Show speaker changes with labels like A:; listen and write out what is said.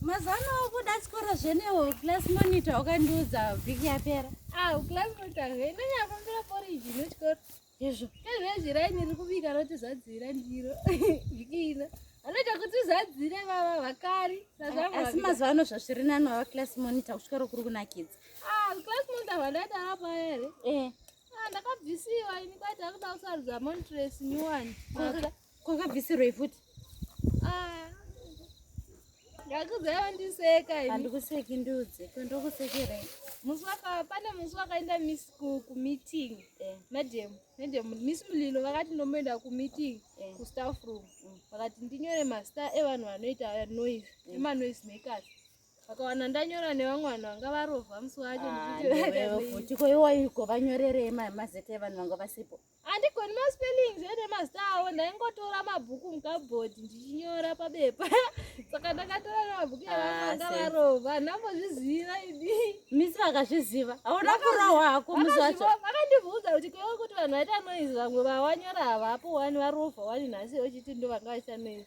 A: mazano okuda chikoro zvenewo class monitor ukandiudza vhiki yapera ah, class monitor
B: zvenonyafambira poriji nechikoro Izvo.
A: Izvezvi raini riri
B: kubika roti zadzira ndiro. Vikina. Anoita kuti zadzire vava vakari. Asi mazuva
A: ano zvazviri nani vava class monitor kusvika rokuri kunakidza. Ah, class
B: monitor vandaita apa here? Eh. Ah, ndakabvisiwa ini kwaita kuda kusarudza montress nyuwani. kwakabvisirwei
A: futi ah.
B: ndakuzaya wandiseka handikuseki ndudze
A: kwandokusekerei musi waka
B: pane musi wakaenda mis kumeeting eh. madam madam miss mulilo vakati ndomboenda kumeeting eh. kustaff room mm. vakati ndinyore mazita evanhu vanoita noise mm. emanoise makers vakawana ndanyora nevamwe vanhu vanga varovha musi wacho ah, ndichitiko iwaiko
A: vanyorerei mazita evanhu vanga vasipo handigoni maspellings
B: ene mazita awo ndaingotora mabhuku mukabhodhi ndichinyora pabepa saka ndakatora nemabhuku yavanga ah, varova ndambozviziva idi misi vakazviziva
A: hauna kurohwa hako musi wacho vakandibvunza kuti kwewe
B: kuti vanhu vaita noizi vamwe vawanyora havapo wani varova wani nhasi ochiti ndo vanga vaita noizi